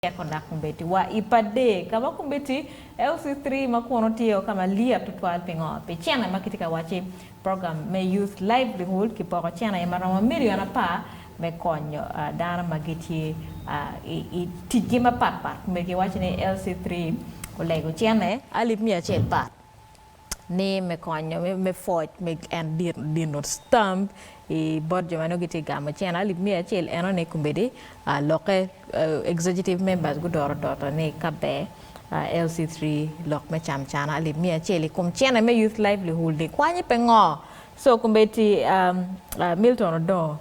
Tek onak kombeddi wa i pade ka ma kombeddi LC3 ma kunu tye o ka ma lyet tutwal pingo? Pi cene ma kitye ka wacci, program me Youth Livelihood kipoko cene aye ma romo million apar me konyo dano ma gitye i ticgi mapat pat. Kombeddi giwacci ni LC3 olego cene alip miya acel pat. ni me konyo me pwoc me en dino stamp i bot jo ma nongo gitye gamo cene alip miya acel enone kombeddi lokke executive members gudoro doto ni ka ber LC three lok me cam cana alip miya acel i kom cene me youth livelihood ni kwanyi pe ngo so kombeddi Milton Odongo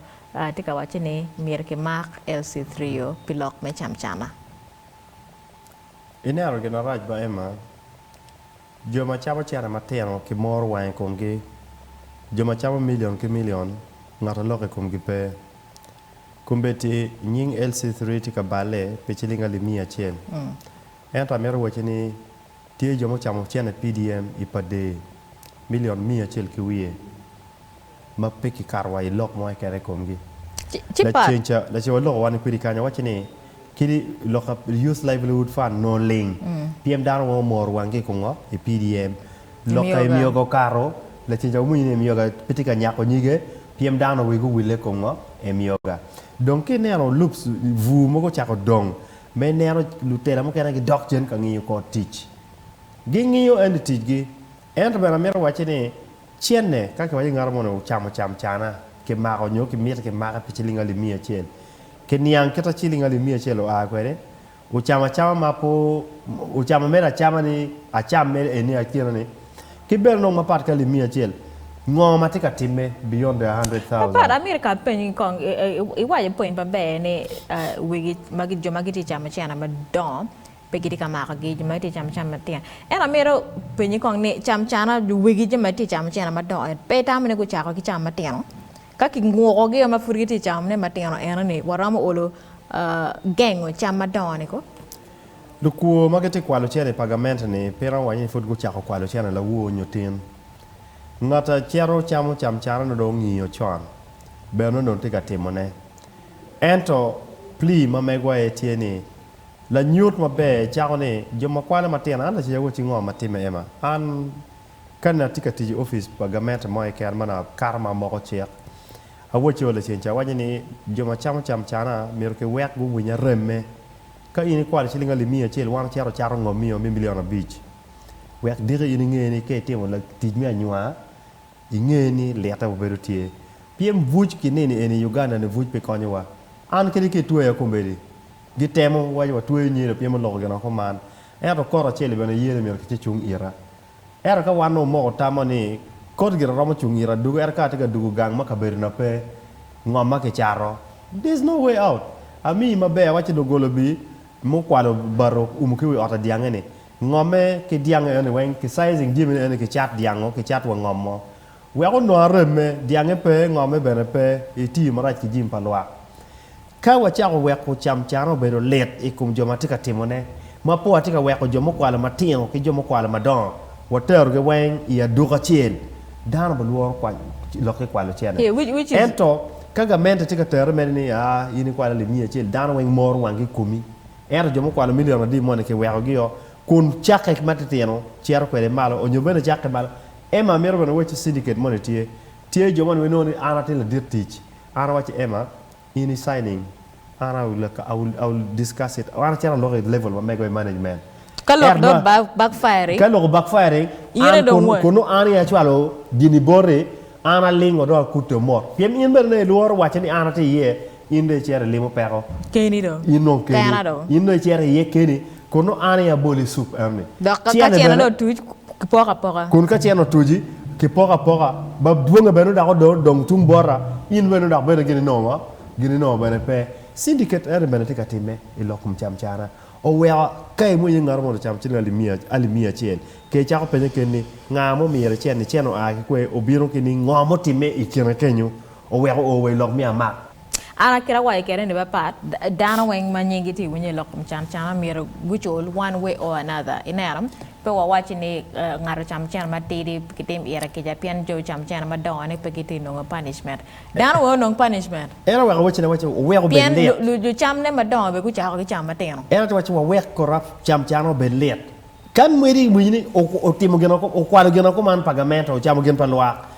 tye ka wacci ni myero ki mak LC three o pi lok me cam cana. Ineno gin marac ba Emma? Jo ma camo cene matino kimoro wang i komgi, jo ma camo milion ki milion, ngat a lok i komgi pe. Kombeddi nying LC3 tye ka balle pi ciling alip miya acel, ento amito wacci ni tye jo mucamo cene PDM i pa dee, milion miya acel ki wiye. ma pe kikato wa i lok mo keken i komgi. Ci pat. Lacen ca, laco aloko wan-ni kwedi kany awacci ni, kit lok ka Youth Livelihood Fund nongo ling, pien dano weng omoro wanggi i kongo? I PDM. Lok ka Emyoga okato, lacen ca wamwonyo ni Emyoga pe tye ka nyako nyige, pien dano wigi owille i kom ngo? Emyoga. Dong ka ineno loops, bur mogo ocako dong, ma ineno lutela mukene gidok cen ka ngiyo kor tic. Gingiyo ento ticgi. Ento bene amito wacci ni, cene ka kiwaco ngat mo ni ocamo cam cana, kimako nyo kimiti kimake pi ciling alip miya acel, ki niang kita ciling alip miya acel oa kwede, ocamo acama ma pe ocamo mere acama ni acam mere eni akina ni, ki bene nongo mapat ki alip miya acel, ngo ma tye ka timme beyond the hundred Mapat, thousand? amito ka apenyi kong, iwaco pwony maber ni wigi magi jo ma gitye ka camo cene madongo Pe gitye ka makogi jo ma gitye ka camo cam matino. Ento amito penyi kong ni cam cana jo wegi jo ma gitye ka camo cene madongo eni pe itamo ni gucako ki cam matino? Ka kingukogi ma pud gitye ka camo ne matino eno ni waromo olo gengo cam madongo ni ko? Lukwor ma gitye ka kwalo cene i pagament ni pe iromo waco ni pud gucako kwalo cene lawo nyo tin. Ngat a cito camo cam cana nongo dong ongiyo con bene nongo dong tye ka timone. Ento pli ma megwa aye tye ni Lanyut maber cako ni, Jo ma kwana matino, an lacayawu acingo ma timme Emma. An, kani atye ka tic i opic pa gamente mo keken ma nongo akato ma amoko cik, awacce wa lacen ca, awaco ni, Jo ma camo cam cana, myero kiwek guwiny aremme. Ka in ikwalo ciling alip miya acel, wan ocito ocato ngo miyo me milion abic? Wek diki in inge ni ka itimo tic me anywa, inge ni lite wa bedo tye. Pyem buc ki nino eni i Uganda-ni buc pe konyowa. An kadi ka itweya komedi, Gitemo waco watweyo nyilo pien muloko gin oko man. Ento kor acel-li bene yelo myero kice cung ita. Ento ka wan nongo omoko tamma ni kor gire romo cung ita dugo ento ka atye ka dugo gang ma kabedona pe ngom ma kicato, there's no way out. Amiyi maber, awacci doggola bi mukwalo bati oumo ki wi ot adyange ni, ngomme ki dyango eno ni weng, ki sizing jami-ni eno ni kicat dyango, kicat wa ngom mo. Wek onwang remme, dyangnge pe, ngomme bene pe, itiyo marac ki jami pa lwak. Ka wacako weko camcane obedo lit i kom jo ma tye ka timone, ma po watye ka weko jo mukwalo matino ki jo mukwalo madongo waterogi weng i aduku acel, dano bilworo lok ki kwalo ocele. Ento, ka gamente tye ka terre mene ni, A, in ikwalo lim miya acel, dano weng moro wangi i komi. Ento jo mukwalo milion adi moni kiwekogi-o, kun cakke ki matitino cito kwede malo, onyo bene cakke malo Emma, Amito bene wacci syndicate moni tye. Tye jo moni ma inongo ni an atin ladit tic. An awacci Emma, in i signing, an I will, I will, I will discuss it. An acito aloko i level ma mego i management. Ka lok Ento dong nongo ba- backfiring, ka loko backfiring, yene an dong kun, won. kunnu an i acwalo gini boti, an alingo dong akute omot. Pien in bene nongo ilworo wacce ni an atye iye, In dong icito ilimo peko. Keni do. In dong keni. Kena do. In dong icito iye keni. Kun nongo an aye aboli i cup enoni. Dok ka cene dong otuc, kipoko apoka. Kun ka cene otuci, kipoko apoka. Bab dwonge bene dok odong dong tung bota. In bene dok bene gin inongo ma? Gin inongo bene pe. Syndicate enoni bene tye ka timme i lok kom cam cana. Oweko ka imwonyo iye ngato mondo ocam ciling alip miya acel, ke icako penye keni ni, Nga ma omiri cen-ni? Cen oa ki kwe? Obino ki ni ngo ma otimme i kine kenyo? Oweko oo wa i lok mi amak. An a kit a waco kede ni ba part dano weng ma nying gi tye winyo i lok kom can cana myero gu cul one way or another i neno pe wa waci ni ngat ocamo cen ma tidi ki tim ire kica pien jo ocamo cen ma dongo ni pe gi tye nongo punishment dano weng onong punishment. En a weko wacci ne waci oweko obed lit. Pien lu cam ne ma dongo be gu cako ki camo ma tino. En a tye waci wa wek kora cam cana obed lit. Kan mwedi i winyi ni otimo gin okwalo gin kuman pa gamente ocamo gin pa lwak